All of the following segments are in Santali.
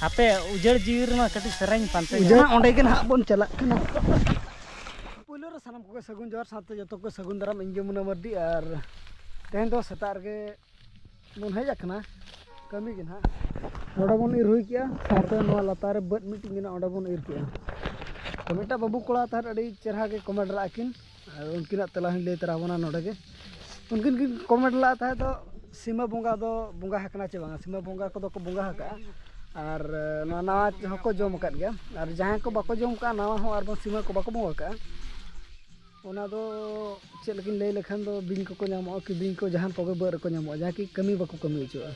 ᱦᱟᱯᱮ ᱩᱡᱟᱹᱲ ᱡᱤᱣᱤ ᱨᱮᱢᱟ ᱠᱟᱹᱴᱤᱡ ᱥᱮᱨᱮᱧ ᱯᱟᱱᱛᱮ ᱩᱡᱟᱹᱲ ᱚᱸᱰᱮ ᱜᱮ ᱱᱟᱦᱟᱜ ᱵᱚᱱ ᱪᱟᱞᱟᱜ ᱠᱟᱱᱟ ᱯᱳᱭᱞᱳ ᱨᱮ ᱥᱟᱱᱟᱢ ᱠᱚᱜᱮ ᱥᱟᱹᱜᱩᱱ ᱡᱚᱦᱟᱨ ᱥᱟᱶᱛᱮ ᱡᱚᱛᱚ ᱠᱚ ᱥᱟᱹᱜᱩᱱ ᱫᱟᱨᱟᱢ ᱤᱧ ᱜᱮ ᱢᱩᱱᱟ ᱢᱟᱨᱰᱤ ᱟᱨ ᱛᱮᱦᱮᱧ ᱫᱚ ᱥᱮᱛᱟᱜ ᱨᱮᱜᱮ ᱵᱚᱱ ᱦᱮᱡ ᱟᱠᱟᱱᱟ ᱠᱟᱹᱢᱤ ᱜᱮ ᱱᱟᱦᱟᱜ ᱱᱚᱰᱮ ᱵᱚᱱ ᱤᱨ ᱦᱩᱭ ᱠᱮᱜᱼᱟ ᱥᱟᱶᱛᱮ ᱱᱚᱣᱟ ᱞᱟᱛᱟᱨ ᱨᱮ ᱵᱟᱹᱫ ᱢᱤᱫᱴᱤᱡ ᱢᱮᱱᱟᱜᱼᱟ ᱚᱸᱰᱮ ᱵᱚᱱ ᱤᱨ ᱠᱮᱜᱼᱟ ᱛᱚ ᱢᱤᱫᱴᱟᱝ ᱵᱟᱹᱵᱩ ᱠᱚᱲᱟ ᱛᱟᱦᱮᱸᱫ ᱟᱹᱰᱤ ᱪᱮᱦᱨᱟ ᱜᱮ ᱠᱚᱢᱮᱱᱴ ᱞᱟᱜᱼᱟ ᱠᱤᱱ ᱟᱨ ᱩᱱᱠᱤᱱᱟᱜ ᱛᱮᱞᱟ ᱦᱚᱸᱧ ᱞᱟᱹᱭ ᱛᱚᱨᱟ ᱟᱵᱚᱱᱟ ᱱᱚᱰᱮ ᱜᱮ ᱩᱱᱠᱤᱱ ᱠᱤᱱ ᱠᱚᱢᱮᱱᱴ ᱞᱮᱫ ᱛᱟᱦᱮᱸᱫ ᱫᱚ ᱥᱤᱢᱟᱹ ᱵᱚᱸᱜᱟ ᱫᱚ ᱵᱚᱸᱜᱟ ᱟᱠᱟᱱᱟ ᱥᱮ ᱵᱟᱝᱟ ᱥᱤᱢᱟᱹ ᱵᱚᱸᱜᱟ ᱠᱚᱫᱚ ᱠᱚ ᱵᱚᱸᱜᱟ ᱟᱠᱟᱫᱼᱟ ᱟᱨ ᱱᱚᱣᱟ ᱱᱟᱣᱟ ᱛᱮᱦᱚᱸ ᱠᱚ ᱡᱚᱢ ᱟᱠᱟᱫ ᱜᱮᱭᱟ ᱟᱨ ᱡᱟᱦᱟᱸᱭ ᱠᱚ ᱵᱟᱠᱚ ᱡᱚᱢ ᱟᱠᱟᱫᱼᱟ ᱱᱟᱣᱟ ᱦᱚᱸ ᱟᱨ ᱵᱟᱝ ᱥᱤᱢᱟᱹ ᱠᱚ ᱵᱟᱠᱚ ᱵᱚᱸᱜᱟ ᱟᱠᱟᱫᱼᱟ ᱚᱱᱟ ᱫᱚ ᱪᱮᱫ ᱞᱮᱠᱟᱧ ᱞᱟᱹᱭ ᱞᱮᱠᱷᱟᱱ ᱫᱚ ᱵᱤᱧ ᱠᱚᱠᱚ ᱧᱟᱢᱚᱜᱼᱟ ᱠᱤᱫᱤᱧ ᱠᱚ ᱡᱟᱦᱟᱱ ᱠᱚᱜᱮ ᱵᱟᱹᱫᱽ ᱨᱮᱠᱚ ᱧᱟᱢᱚᱜᱼᱟ ᱡᱟᱦᱟᱸ ᱠᱤ ᱠᱟᱹᱢᱤ ᱵᱟᱠᱚ ᱠᱟᱹᱢᱤ ᱦᱚᱪᱚᱣᱟᱜᱼᱟ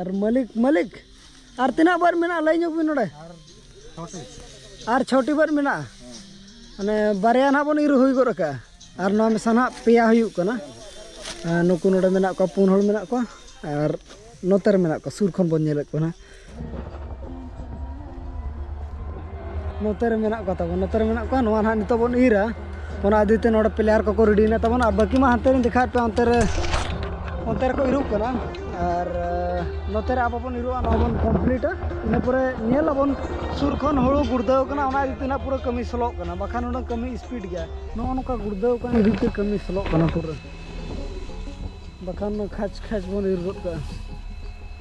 ᱟᱨ ᱢᱟᱹᱞᱤᱠ ᱢᱟᱹᱞᱤᱠ ᱟᱨ ᱛᱤᱱᱟᱹᱜ ᱵᱟᱨ ᱢᱮᱱᱟᱜᱼᱟ ᱞᱟᱹᱭ ᱧᱚᱜ ᱵᱤᱱ ᱱᱚᱰᱮ ᱟᱨ ᱪᱷᱚᱴᱤ ᱵᱟᱨ ᱢᱮᱱᱟᱜᱼᱟ ᱢᱟᱱᱮ ᱵᱟᱨᱭᱟ ᱱᱟᱦᱟᱜ ᱵᱚᱱ ᱤᱨ ᱦᱩᱭ ᱜᱚᱫ ᱟᱠᱟᱜᱼᱟ ᱟᱨ ᱱᱚᱣᱟ ᱢᱮᱥᱟ ᱱᱟᱦᱟᱜ ᱯᱮᱭᱟ ᱦᱩᱭᱩᱜ ᱠᱟᱱᱟ ᱱᱩᱠᱩ ᱱᱚᱰᱮ ᱢᱮᱱᱟᱜ ᱠᱚᱣᱟ ᱯᱩᱱ ᱦᱚᱲ ᱢᱮᱱᱟᱜ ᱠᱚᱣᱟ ᱟᱨ ᱱᱚᱛᱮ ᱨᱮ ᱢᱮᱱᱟᱜ ᱠᱚᱣᱟ ᱥᱩᱨ ᱠᱷᱚᱱ ᱵᱚᱱ ᱧᱮᱞᱮᱫ ᱠᱚᱣᱟ ᱱᱟᱦᱟᱜ ᱱᱚᱛᱮ ᱨᱮ ᱢᱮᱱᱟᱜ ᱠᱚ ᱛᱟᱵᱚᱱ ᱱᱚᱛᱮ ᱨᱮ ᱢᱮᱱᱟᱜ ᱠᱚᱣᱟ ᱱᱚᱣᱟ ᱱᱟᱦᱟᱜ ᱱᱤᱛᱚᱜ ᱵᱚᱱ ᱤᱨᱟ ᱚᱱᱟ ᱤᱫᱤ ᱛᱮ ᱱᱚᱰᱮ ᱯᱞᱮᱭᱟᱨ ᱠᱚᱠᱚ ᱨᱮᱰᱤ ᱮᱱᱟ ᱛᱟᱵᱚᱱ ᱟᱨ ᱵᱟᱹᱠᱤ ᱢᱟ ᱦᱟᱱᱛᱮ ᱨᱤᱧ ᱫᱮᱠᱷᱟᱣᱮᱫ ᱯᱮᱭᱟ ᱚᱱᱛᱮ ᱨᱮ ᱚᱱᱛᱮ ᱨᱮᱠᱚ ᱤᱨᱚᱜ ᱠᱟᱱᱟ ᱟᱨ ᱱᱚᱛᱮ ᱨᱮ ᱟᱵᱚ ᱵᱚᱱ ᱤᱨᱚᱜᱼᱟ ᱱᱚᱣᱟ ᱵᱚᱱ ᱠᱚᱢᱯᱞᱤᱴᱟ ᱤᱱᱟᱹ ᱯᱚᱨᱮ ᱧᱮᱞ ᱟᱵᱚᱱ ᱥᱩᱨ ᱠᱷᱚᱱ ᱦᱩᱲᱩ ᱜᱩᱲᱫᱟᱹᱣ ᱠᱟᱱᱟ ᱚᱱᱟ ᱤᱫᱤ ᱛᱮ ᱱᱟᱦᱟᱜ ᱯᱩᱨᱟᱹ ᱠᱟᱹᱢᱤ ᱥᱞᱚᱜ ᱠᱟᱱᱟ ᱵᱟᱠᱷᱟᱱ ᱩᱱᱟᱹᱜ ᱠᱟᱹᱢᱤ ᱥᱯᱤᱰ ᱜᱮᱭᱟ ᱱᱚᱜᱼᱚ ᱱᱚᱝᱠᱟ ᱜᱩᱲᱫᱟᱹᱣ ᱠᱟᱱ ᱤᱫᱤ ᱛᱮ ᱠᱟᱹᱢᱤ ᱥᱞᱚᱜ ᱠᱟᱱᱟ ᱯᱩᱨᱟᱹ ᱵᱟᱠᱷᱟᱱ ᱠᱷᱟᱪ ᱠᱷᱟᱪ ᱵᱚᱱ ᱤᱨ ᱜᱚᱫ ᱠᱟᱜᱼᱟ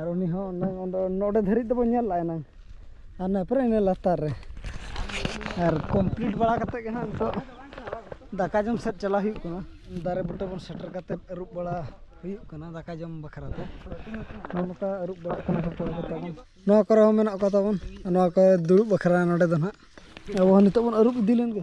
ᱟᱨ ᱩᱱᱤ ᱦᱚᱸ ᱱᱚᱰᱮ ᱫᱷᱟᱹᱨᱤᱡ ᱫᱚᱵᱚᱱ ᱧᱮᱞ ᱞᱟᱜᱼᱟ ᱮᱱᱟᱝ ᱟᱨ ᱱᱟᱯᱨᱮ ᱤᱱᱟᱹ ᱞᱟᱛᱟᱨ ᱨᱮ ᱟᱨ ᱠᱚᱢᱯᱞᱤᱴ ᱵᱟᱲᱟ ᱠᱟᱛᱮ ᱜᱮ ᱦᱟᱸᱜ ᱱᱤᱛᱚᱜ ᱫᱟᱠᱟ ᱡᱚᱢ ᱥᱮᱫ ᱪᱟᱞᱟᱜ ᱦᱩᱭᱩᱜ ᱠᱟᱱᱟ ᱫᱟᱨᱮ ᱵᱩᱴᱟᱹ ᱵᱚᱱ ᱥᱮᱴᱮᱨ ᱠᱟᱛᱮ ᱟᱹᱨᱩᱵ ᱵᱟᱲᱟ ᱦᱩᱭᱩᱜ ᱠᱟᱱᱟ ᱫᱟᱠᱟ ᱡᱚᱢ ᱵᱟᱠᱷᱨᱟ ᱛᱮ ᱱᱚᱜᱼᱚ ᱱᱚᱝᱠᱟ ᱟᱹᱨᱩᱵ ᱵᱟᱲᱟᱜ ᱠᱟᱱᱟ ᱠᱚ ᱠᱚᱲᱟ ᱠᱚ ᱛᱟᱵᱚᱱ ᱱᱚᱣᱟ ᱠᱚᱨᱮ ᱦᱚᱸ ᱢᱮᱱᱟᱜ ᱠᱚ ᱛᱟᱵᱚᱱ ᱱᱚᱣᱟ ᱠᱚᱨᱮ ᱫᱩᱲᱩᱵ ᱵᱟᱠᱷᱨᱟ ᱱᱚᱰᱮ ᱫᱚ ᱦᱟᱸᱜ ᱟᱵᱚ ᱦᱚᱸ ᱱᱤᱛᱚᱜ ᱵᱚᱱ ᱟᱹᱨᱩᱵ ᱤᱫᱤ ᱞᱮᱱ ᱜᱮ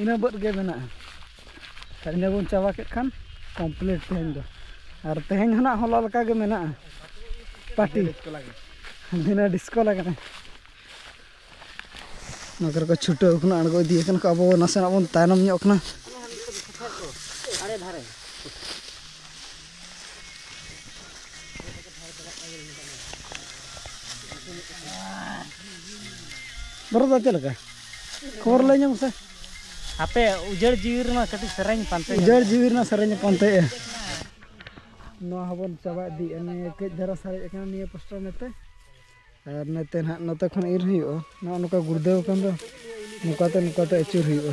ᱤᱱᱟᱹ ᱵᱟᱹᱫᱽ ᱜᱮ ᱢᱮᱱᱟᱜᱼᱟ ᱟᱨ ᱤᱱᱟᱹ ᱵᱚᱱ ᱪᱟᱵᱟ ᱠᱮᱫ ᱠᱷᱟᱱ ᱠᱚᱢᱯᱞᱤᱴ ᱛᱮᱦᱮᱧ ᱫᱚ ᱟᱨ ᱛᱮᱦᱮᱧ ᱦᱚᱸ ᱱᱟᱦᱟᱜ ᱦᱚᱞᱟ ᱞᱮᱠᱟ ᱜᱮ ᱢᱮᱱᱟᱜᱼᱟ ᱯᱟᱴᱤ ᱫᱤᱱᱟᱹ ᱰᱤᱥᱠᱳ ᱞᱟᱜᱟᱜᱼᱟ ᱱᱚᱣᱟ ᱠᱚᱨᱮ ᱠᱚ ᱪᱷᱩᱴᱟᱹᱣ ᱠᱟᱱᱟ ᱟᱬᱜᱚ ᱤᱫᱤ ᱠᱟᱱᱟ ᱠᱚ ᱟᱵᱚ ᱱᱟᱥᱮᱱᱟᱜ ᱵᱚᱱ ᱛᱟᱭᱱᱚᱢ ᱧᱚᱜ ᱠᱟᱱᱟ ᱫᱚᱨᱚ ᱫᱚ ᱪᱮᱫ ᱞᱮᱠᱟ ᱠᱷᱚᱵᱚᱨ ᱞᱟᱹᱭ ᱧᱟᱢ ᱥᱮ ᱟᱯᱮ ᱩᱡᱟᱹᱲ ᱡᱤᱣᱤ ᱨᱮᱱᱟᱜ ᱠᱟᱹᱴᱤᱡ ᱥᱮᱨᱮᱧ ᱯᱟᱱᱛᱮ ᱩᱡᱟᱹᱲ ᱡᱤᱣᱤ ᱨᱮᱱᱟᱜ ᱥᱮᱨᱮᱧ ᱯᱟᱱᱛᱮᱭᱮᱜᱼᱟ ᱱᱚᱣᱟ ᱦᱚᱸᱵᱚᱱ ᱪᱟᱵᱟ ᱤᱫᱤᱭᱮᱜᱼᱟ ᱱᱤᱭᱟᱹ ᱠᱟᱹᱡ ᱫᱷᱟᱨᱟ ᱥᱟᱨᱮᱡ ᱟᱠᱟᱱᱟ ᱱᱤᱭᱟᱹ ᱯᱟᱥᱴᱟ ᱱᱚᱛᱮ ᱟᱨ ᱱᱚᱛᱮ ᱱᱟᱦᱟᱜ ᱱᱚᱛᱮ ᱠᱷᱚᱱ ᱤᱨ ᱦᱩᱭᱩᱜᱼᱟ ᱱᱚᱜᱼᱚ ᱱᱚᱝᱠᱟ ᱜᱩᱲᱫᱟᱹᱣ ᱟᱠᱟᱱ ᱫᱚ ᱱᱚᱝᱠᱟᱛᱮ ᱱᱚᱝᱠᱟᱛᱮ ᱟᱹᱪᱩᱨ ᱦᱩᱭᱩᱜᱼᱟ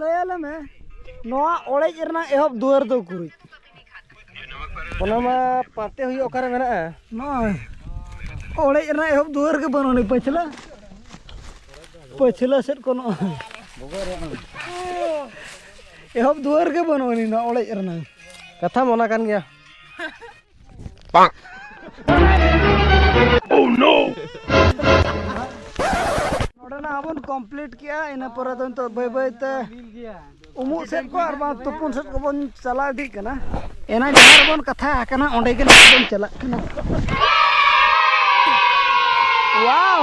ᱞᱟᱹᱭᱟᱞᱮ ᱢᱮ ᱱᱚᱣᱟ ᱚᱲᱮᱡ ᱨᱮᱱᱟᱜ ᱮᱦᱚᱵ ᱫᱩᱣᱟᱹᱨ ᱫᱚ ᱩᱠᱩᱨᱤᱡ ᱚᱱᱟ ᱢᱟ ᱯᱟᱱᱛᱮ ᱦᱩᱭᱩᱜ ᱚᱠᱟᱨᱮ ᱢᱮᱱᱟᱜᱼᱟ ᱱᱚᱜᱼᱚᱭ ᱚᱲᱮᱡ ᱨᱮᱱᱟᱜ ᱮᱦᱚᱵ ᱫᱩᱣᱟᱹᱨ ᱜᱮ ᱵᱟᱹᱱᱩᱜ ᱟᱹᱱᱤᱡ ᱯᱟᱹᱪᱷᱞᱟᱹ ᱯᱟᱹᱪᱷᱞᱟᱹ ᱥᱮᱫ ᱠᱚ ᱱᱚᱜᱼᱚᱭ ᱮᱦᱚᱵ ᱫᱩᱣᱟᱹᱨ ᱜᱮ ᱵᱟᱹᱱᱩᱜ ᱟᱹᱱᱤᱡ ᱱᱚᱣᱟ ᱚᱲᱮᱡ ᱨᱮᱱᱟᱜ ᱠᱟᱛᱷᱟ ᱢᱚᱱᱟ ᱠᱟᱱ ᱜᱮᱭᱟ ᱵᱟᱝ ᱳ ᱱᱳ ᱱᱚᱰᱮᱱᱟᱜ ᱟᱵᱚᱱ ᱠᱚᱢᱯᱞᱤᱴ ᱠᱮᱜᱼᱟ ᱤᱱᱟᱹ ᱯᱚᱨᱮ ᱫᱚ ᱱᱤᱛᱚᱜ ᱵᱟᱹᱭ ᱵᱟᱹᱭ ᱛᱮ ᱩᱢᱩᱜ ᱥᱮᱫ ᱠᱚ ᱟᱨ ᱵᱟᱝ ᱛᱩᱯᱩᱱ ᱥᱮᱫ ᱠᱚᱵᱚᱱ ᱪᱟᱞᱟᱣ ᱤᱫᱤᱜ ᱠᱟᱱᱟ ᱮᱱᱟ ᱡᱟᱦᱟᱸ ᱨᱮᱵᱚᱱ ᱠᱟᱛᱷᱟ ᱟᱠᱟᱱᱟ ᱚᱸᱰᱮ ᱜᱮ ᱱᱤᱛᱚᱜ ᱵᱚᱱ ᱪᱟᱞᱟᱜ ᱠᱟᱱᱟ ᱣᱟᱣ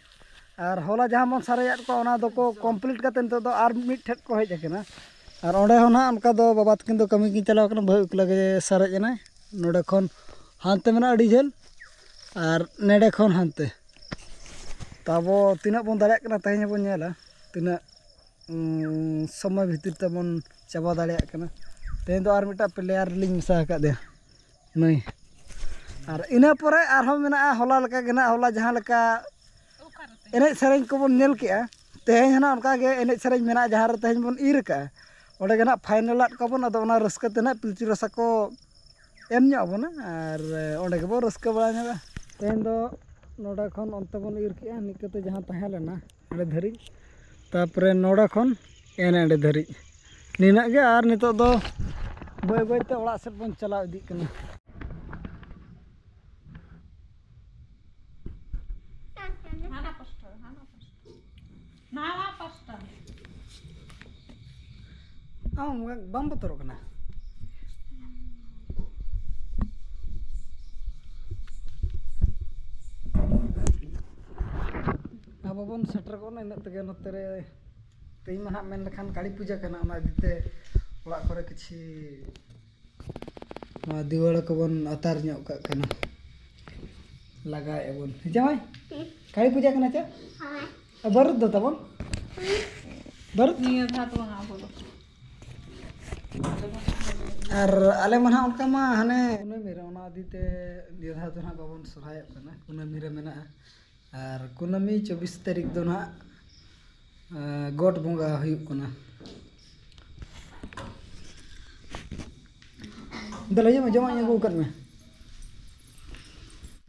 ᱟᱨ ᱦᱚᱞᱟ ᱡᱟᱦᱟᱸ ᱵᱚᱱ ᱥᱟᱨᱮᱡᱟᱫ ᱠᱚᱣᱟ ᱚᱱᱟ ᱫᱚᱠᱚ ᱠᱚᱢᱯᱞᱤᱴ ᱠᱟᱛᱮᱫ ᱱᱤᱛᱚᱜ ᱫᱚ ᱟᱨ ᱢᱤᱫ ᱴᱷᱮᱱ ᱠᱚ ᱦᱮᱡ ᱟᱠᱟᱱᱟ ᱟᱨ ᱚᱸᱰᱮ ᱦᱚᱸ ᱱᱟᱦᱟᱜ ᱚᱱᱠᱟ ᱫᱚ ᱵᱟᱵᱟ ᱛᱟᱹᱠᱤᱱ ᱫᱚ ᱠᱟᱹᱢᱤ ᱠᱤᱱ ᱪᱟᱞᱟᱣ ᱠᱟᱱᱟ ᱵᱟᱹᱦᱩ ᱮᱠᱞᱟ ᱜᱮ ᱥᱟᱨᱮᱡ ᱮᱱᱟᱭ ᱱᱚᱰᱮ ᱠᱷᱚᱱ ᱦᱟᱱᱛᱮ ᱢᱮᱱᱟᱜᱼᱟ ᱟᱹᱰᱤ ᱡᱷᱟᱹᱞ ᱟᱨ ᱱᱚᱰᱮ ᱠᱷᱚᱱ ᱦᱟᱱᱛᱮ ᱛᱚ ᱟᱵᱚ ᱛᱤᱱᱟᱹᱜ ᱵᱚᱱ ᱫᱟᱲᱮᱭᱟᱜ ᱠᱟᱱᱟ ᱛᱮᱦᱮᱧ ᱦᱚᱸᱵᱚᱱ ᱧᱮᱞᱟ ᱛᱤᱱᱟᱹᱜ ᱥᱚᱢᱚᱭ ᱵᱷᱤᱛᱤᱨ ᱛᱮᱵᱚᱱ ᱪᱟᱵᱟ ᱫᱟᱲᱮᱭᱟᱜ ᱠᱟᱱᱟ ᱛᱮᱦᱮᱧ ᱫᱚ ᱟᱨ ᱢᱤᱫᱴᱟᱱ ᱯᱞᱮᱭᱟᱨ ᱞᱤᱧ ᱢᱮᱥᱟ ᱟᱠᱟᱫᱮᱭᱟ ᱱᱟᱹᱭ ᱟᱨ ᱤᱱᱟᱹ ᱯᱚᱨᱮ ᱟᱨᱦᱚᱸ ᱢᱮᱱᱟᱜᱼᱟ ᱦᱚᱞᱟ ᱞᱮᱠᱟ ᱜᱮ ᱦᱟᱸᱜ ᱦᱚᱞᱟ ᱡᱟᱦᱟᱸ ᱞᱮᱠᱟ ᱮᱱᱮᱡ ᱥᱮᱨᱮᱧ ᱠᱚᱵᱚᱱ ᱧᱮᱞ ᱠᱮᱜᱼᱟ ᱛᱮᱦᱮᱧ ᱦᱚᱸ ᱱᱟᱦᱟᱜ ᱚᱱᱠᱟ ᱜᱮ ᱮᱱᱮᱡ ᱥᱮᱨᱮᱧ ᱢᱮᱱᱟᱜᱼᱟ ᱡᱟᱦᱟᱸ ᱨᱮ ᱛᱮᱦᱮᱧ ᱵᱚᱱ ᱤᱨ ᱠᱟᱜᱼᱟ ᱚᱸᱰᱮ ᱜᱮ ᱦᱟᱸᱜ ᱯᱷᱟᱭᱱᱮᱞ ᱟᱜ ᱠᱚᱣᱟ ᱵᱚᱱ ᱟᱫᱚ ᱚᱱᱟ ᱨᱟᱹᱥᱠᱟᱹ ᱛᱮ ᱦᱟᱸᱜ ᱯᱤᱞᱪᱩ ᱨᱟᱥᱟ ᱠᱚ ᱮᱢ ᱧᱚᱜ ᱟᱵᱚᱱᱟ ᱟᱨ ᱚᱸᱰᱮ ᱜᱮᱵᱚᱱ ᱨᱟᱹᱥᱠᱟᱹ ᱵᱟᱲᱟ ᱧᱚᱜᱟ ᱛᱮᱦᱮᱧ ᱫᱚ ᱱᱚᱰᱮ ᱠᱷᱚᱱ ᱚᱱᱛᱮ ᱵᱚᱱ ᱤᱨ ᱠᱮᱜᱼᱟ ᱱᱤᱝᱠᱟᱹ ᱛᱮ ᱡᱟᱦᱟᱸ ᱛᱟᱦᱮᱸ ᱞᱮᱱᱟ ᱚᱸᱰᱮ ᱫᱷᱟᱹᱨᱤᱡ ᱛᱟᱨᱯᱚᱨᱮ ᱱᱚᱰᱮ ᱠᱷᱚᱱ ᱮᱱᱮ ᱮᱸᱰᱮ ᱫᱷᱟᱹᱨᱤᱡ ᱱᱤᱱᱟᱹᱜ ᱜᱮ ᱟᱨ ᱱᱤᱛᱚᱜ ᱫᱚ ᱵᱟᱹᱭ ᱵᱟᱹᱭᱛᱮ ᱚᱲᱟᱜ ᱥᱮᱫ ᱵᱚᱱ ᱪᱟᱞᱟᱣ ᱤᱫᱤᱜ ᱠᱟᱱᱟ ᱟᱢ ᱵᱟᱢ ᱵᱚᱛᱚᱨᱚᱜ ᱠᱟᱱᱟ ᱟᱵᱚ ᱵᱚᱱ ᱥᱮᱴᱮᱨ ᱜᱚᱫ ᱮᱱᱟ ᱤᱱᱟᱹᱜ ᱛᱮᱜᱮ ᱱᱚᱛᱮ ᱨᱮ ᱛᱮᱦᱮᱧ ᱢᱟ ᱦᱟᱸᱜ ᱢᱮᱱ ᱞᱮᱠᱷᱟᱱ ᱠᱟᱹᱞᱤ ᱯᱩᱡᱟᱹ ᱠᱟᱱᱟ ᱚᱱᱟ ᱤᱫᱤ ᱛᱮ ᱚᱲᱟᱜ ᱠᱚᱨᱮ ᱠᱤᱪᱷᱤ ᱱᱚᱣᱟ ᱫᱤᱣᱟᱹᱲᱟ ᱠᱚᱵᱚᱱ ᱟᱛᱟᱨ ᱧᱚᱜ ᱠᱟᱜ ᱠᱟᱱᱟ ᱞᱟᱜᱟᱣᱮᱫᱼᱟ ᱵᱚᱱ ᱦᱮᱸ ᱡᱟᱶᱟᱭ ᱠᱟᱹᱞᱤ ᱯᱩᱡᱟᱹ ᱠᱟᱱᱟ ᱪᱮ ᱵᱟᱹᱨᱩᱫ ᱫᱚ ᱛᱟᱵᱚᱱ ᱵᱟᱹᱨᱩᱫ ᱱᱤᱭᱟᱹ ᱫᱷᱟᱣ ᱫᱚ ᱵᱟᱝ ᱟᱵᱚ ᱫᱚ ᱟᱨ ᱟᱞᱮ ᱢᱟ ᱱᱟᱦᱟᱜ ᱚᱱᱠᱟ ᱢᱟ ᱦᱟᱱᱮ ᱠᱩᱱᱟᱹᱢᱤ ᱨᱮ ᱚᱱᱟ ᱤᱫᱤ ᱛᱮ ᱱᱤᱭᱟᱹ ᱫᱷᱟᱣ ᱫᱚ ᱱᱟᱦᱟᱜ ᱵᱟᱵᱚᱱ ᱥᱚᱦᱨᱟᱭᱚᱜ ᱠᱟᱱᱟ ᱠᱩᱱᱟᱹᱢᱤ ᱨᱮ ᱢᱮᱱᱟᱜᱼᱟ ᱟᱨ ᱠᱩᱱᱟᱹᱢᱤ ᱪᱚᱵᱵᱤᱥ ᱛᱟᱹᱨᱤᱠᱷ ᱫᱚ ᱦᱟᱸᱜ ᱜᱚᱴ ᱵᱚᱸᱜᱟ ᱦᱩᱭᱩᱜ ᱠᱟᱱᱟ ᱫᱮᱞᱟ ᱦᱤᱡᱩᱜ ᱢᱮ ᱡᱚᱢᱟᱜ ᱤᱧ ᱟᱹᱜᱩ ᱟᱠᱟᱫ ᱢᱮ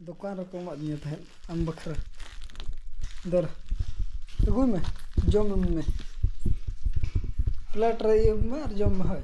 ᱫᱚᱠᱟᱱ ᱨᱮᱠᱚ ᱮᱢᱟᱫ ᱫᱤᱧᱟ ᱛᱟᱦᱮᱸᱫ ᱟᱢ ᱵᱟᱠᱷᱨᱟ ᱫᱮᱞᱟ ᱟᱹᱜᱩᱭ ᱢᱮ ᱡᱚᱢ ᱢᱮ ᱯᱞᱮᱴ ᱨᱮ ᱤᱭᱟᱹᱭ ᱢᱮ ᱟᱨ ᱡᱚᱢ ᱢᱮ ᱦᱳᱭ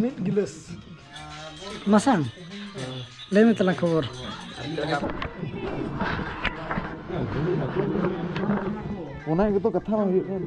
ᱢᱤᱫ ᱜᱤᱞᱟᱹᱥ ᱢᱟᱥᱟᱝ ᱞᱟᱹᱭ ᱢᱮ ᱛᱟᱞᱟᱝ ᱠᱷᱚᱵᱚᱨ ᱚᱱᱟ ᱜᱮᱛᱚ ᱠᱟᱛᱷᱟ ᱵᱟᱝ ᱦᱩᱭᱩᱜ ᱠᱟᱱᱟ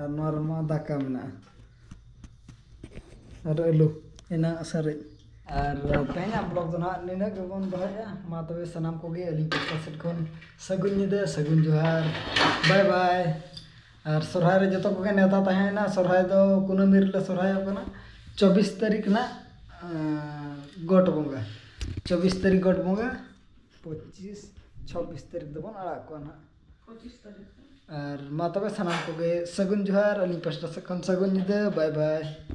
ᱟᱨ ᱱᱚᱣᱟ ᱨᱮᱢᱟ ᱫᱟᱠᱟ ᱢᱮᱱᱟᱜᱼᱟ ᱟᱨ ᱟᱹᱞᱩ ᱮᱱᱟᱜ ᱥᱟᱨᱮᱡ ᱟᱨ ᱛᱮᱦᱮᱧᱟᱜ ᱵᱞᱚᱜ ᱫᱚ ᱱᱟᱦᱟᱜ ᱱᱤᱱᱟᱹᱜ ᱜᱮᱵᱚᱱ ᱫᱚᱦᱚᱭᱮᱫᱼᱟ ᱢᱟ ᱛᱚᱵᱮ ᱥᱟᱱᱟᱢ ᱠᱚᱜᱮ ᱟᱹᱞᱤᱧ ᱯᱟᱥᱴᱟ ᱥᱮᱫ ᱠᱷᱚᱱ ᱥᱟᱹᱜᱩᱱ ᱧᱤᱫᱟᱹ ᱥᱟᱹᱜᱩᱱ ᱡᱚᱦᱟᱨ ᱵᱟᱭ ᱵᱟᱭ ᱟᱨ ᱥᱚᱨᱦᱟᱭ ᱨᱮ ᱡᱚᱛᱚ ᱠᱚᱜᱮ ᱱᱮᱣᱛᱟ ᱛᱟᱦᱮᱸᱭᱮᱱᱟ ᱥᱚᱨᱦᱟᱭ ᱫᱚ ᱠᱩᱱᱟᱹᱢᱤ ᱨᱮᱞᱮ ᱥᱚᱨᱦᱟᱭᱚᱜ ᱠᱟᱱᱟ ᱪᱚᱵᱵᱤᱥ ᱛᱟᱹᱨᱤᱠᱷ ᱨᱮᱱᱟᱜ ᱜᱚᱴ ᱵᱚᱸᱜᱟ ᱪᱚᱵᱵᱤᱥ ᱛᱟᱹᱨᱤᱠᱷ ᱜᱚᱴ ᱵᱚᱸᱜᱟ ᱯᱚᱸᱪᱤᱥ ᱪᱷᱚᱵᱵᱤᱥ ᱛᱟᱹᱨᱤᱠᱷ ᱫᱚᱵᱚᱱ ᱟᱲᱟᱜ ᱠᱚᱣᱟ ᱱᱟᱦᱟᱜ ᱟᱨ ᱢᱟ ᱛᱚᱵᱮ ᱥᱟᱱᱟᱢ ᱠᱚᱜᱮ ᱥᱟᱹᱜᱩᱱ ᱡᱚᱦᱟᱨ ᱟᱹᱞᱤᱧ ᱯᱟᱥᱴᱟ ᱥᱮᱫ ᱠᱷᱚᱱ ᱥᱟᱹᱜᱩᱱ ᱧᱤᱫᱟᱹ ᱵᱟᱭ ᱵᱟᱭ